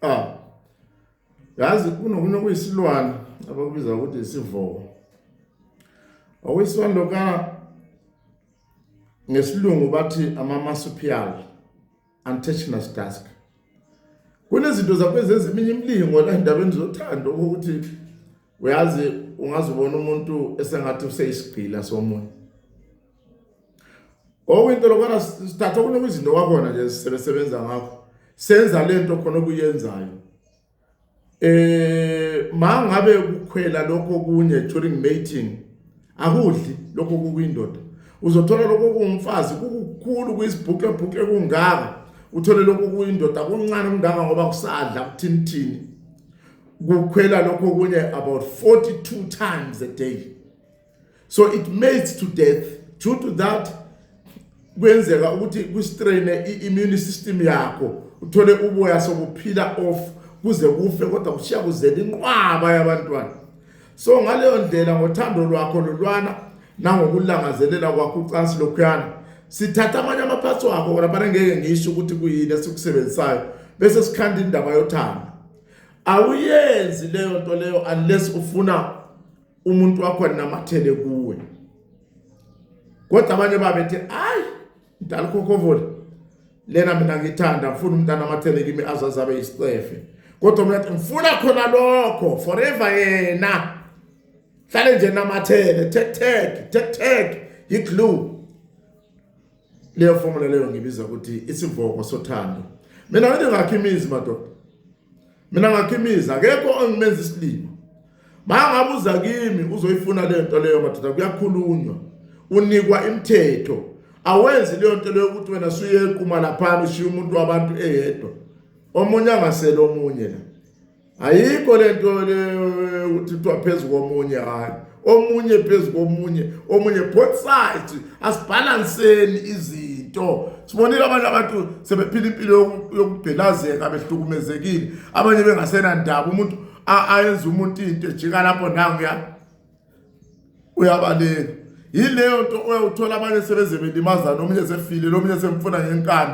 Ah. Yazi kunokunye okuyisilwane abakubiza ukuthi isivoko. Okuyisilwane lokana ngesilungu bathi ama marsupial. Untouchness Task kunezinto zakwezezi eminye imilingo la endabeni zothando ukuthi uyazi ungazibona umuntu esengathi useyisigqila somoya okwinto lokwana sithatha kunokuzinto kwakhona nje sisebenza ngakho senza lento khona okuyenzayo eh mangabe ukukhwela lokho kunye during mating akudli lokho kukwindoda uzothola lokho kungumfazi kukukhulu kuyisibhuqe bhuqe kungaka uthole lokho kuyindoda kuncane kungaka ngoba kusadla kuthinithini kukhwela lokho kunye about 42 times a day so it mates to death due to that kwenzeka ukuthi kustraine i-immune system yakho uthole uboya sokuphila off kuze kufe kodwa kushiya kuzela inqwaba yabantwana so ngaleyo ndlela ngothando lwakho lolwana nangokulangazelela kwakho ucansi lokhuyana sithatha amanye amaphathi wakho kona bana ngeke ngisho ukuthi kuyini esikusebenzisayo bese sikhanda indaba yothando awuyenzi leyo nto leyo unless ufuna umuntu wakho anamathele kuwe kodwa abanye babethi hayi mdala ukhokovole lena mina ngithanda ngifuna umntana amathele kimi azazi abe yisicefe kodwa mina ngifuna khona lokho forever yena hlale nje namathele tek tek tek tek yiglue leyo formula leyo ngibiza ukuthi isivoko sothando mina ngithi ngakhe imizi madoda mina ngakhimiza akekho ongimenza isilima mangabuza kimi uzoyifuna le nto leyo madoda kuyakhulunywa unikwa imithetho awenzi leyo nto leyo ukuthi wena suyequma laphana ushiya umuntu wabantu eyedwa omunye angasele omunye la ayikho le nto leyo ukuthi kuthiwa phezu komunye hhayi omunye phezu komunye omunye both sides asibhalanseni izinto sibonile abantu abantu sebephila impilo yokubhelazeka behlukumezekile abanye bengasenandaba umuntu ayenza umuntu into ejika lapho nanguya uyabaleka yileyo nto oyawuthola abanye sebeze belimazana omunye sefile lomunye semfuna ngenkani